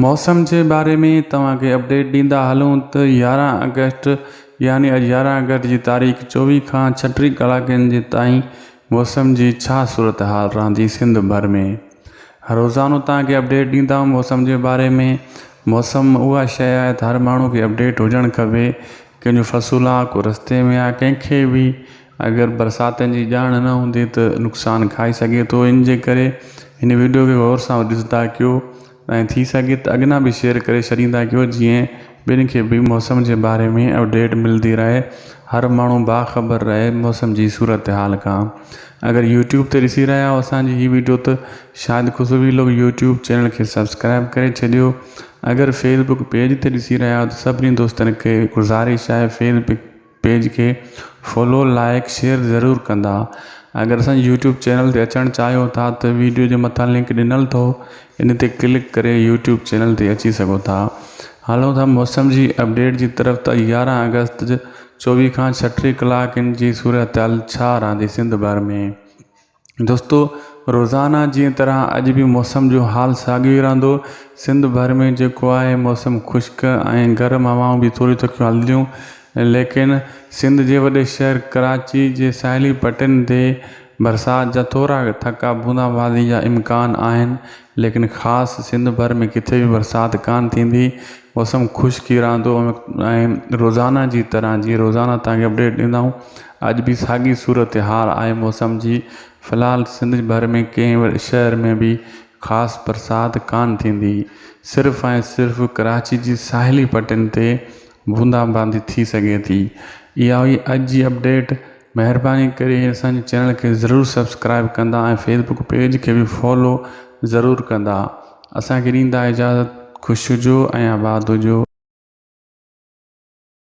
موسم جي باري ۾ توهان کي اپڊيٽ ڏيندا هلون ته يارهن آگسٽ يعني اڄ يارهن آگسٽ جي تاريخ چوويهه کان ڇٽيهه ڪلاڪن جي تائين موسم جي ڇا صورتحال رهندي سنڌ ڀر ۾ روزانو توهان کي اپڊيٽ ڏيندائون موسم جي باري ۾ موسم اها شئي آهي ته هر ماڻهو کي اپڊيٽ هجڻ کپي ڪنهن جو فصول آ ڪو رستي ۾ آ ڪنهن کي بي اگر برساتن جي ڄاڻ نه هوندي ته نقصان کائي سگهي ٿو ان جي ڪري هن وڊيو کي غور سان ڏسندا ڪيو ۽ ٿي سگهي ته اڳنا به شيئر ڪري ڇڏيندا ڪيو جيئن ٻين کي به موسم جي باري ۾ اپڊيٽ ملدي رهي هر ماڻهو باخبر رهي موسم جي صورتحال کان اگر يوٽيوب تي ڏسي رهيا آهيو اسان جي هي وڊيو ته شايد خوشو ويلوگ يوٽيوب چينل کي سبسڪرائب ڪري ڇڏيو اگر فيسبڪ پيج تي ڏسي رهيا آهيو ته سڀني دوستن کي گذارش آهي فيسبڪ پيج کي فالو لائيڪ شيئر ضرور ڪندا اگر اسان جي يوٽيوب چينل تي اچڻ چاهيو ٿا ته ويڊيو جي مٿان لنڪ ڏنل اٿو ان تي ڪلڪ ڪري يوٽيوب چينل تي اچي سگهو ٿا هلو ٿا موسم جي اپڊيٽ جي طرف ته يارهن اگست چوويهه کان ڇٽيهه ڪلاڪن جي صورتحال ڇا رهندي سنڌ ڀر ۾ دوستو روزانه جي طرح اڄ به موسم جو حال ساڳيو ئي رهندو سنڌ ڀر ۾ جيڪو آهي موسم خشڪ ۽ گرم هوائون به ٿوريون تکيون هلنديون ليڪن سنڌ جي وڏي شهر ڪراچي جي ساحلي پٽين تي برسات جا ٿورا ٿڪا بوندا بازي جا امڪان آهن ليڪن خاص سنڌ ڀر ۾ ڪٿي به برسات ڪانه ٿيندي موسم خشڪي رھندو ۽ روزانه جي طرح جي روزانه تان کي اپڊيٽ ڏيندا آھيون اڄ به ساڳي صورت حال آھي موسم جي في الحال سنڌ ڀر ۾ ڪنھن به شھر ۾ به خاص برسات ڪانه ٿيندي صرف ۽ صرف ڪراچي جي ساحلي پٽين تي بوندا باندي ٿي سگھي ٿي اھا ھئي اڄ جي اپڊيٽ مهرباني ڪري اسان جي چينل کي ضرور سبسڪرائب ڪندا ۽ فيسبوڪ پيج کي به فالو ضرور ڪندا اسان کي ڏيندا اجازت خوش هجو ۽ آباد هجو.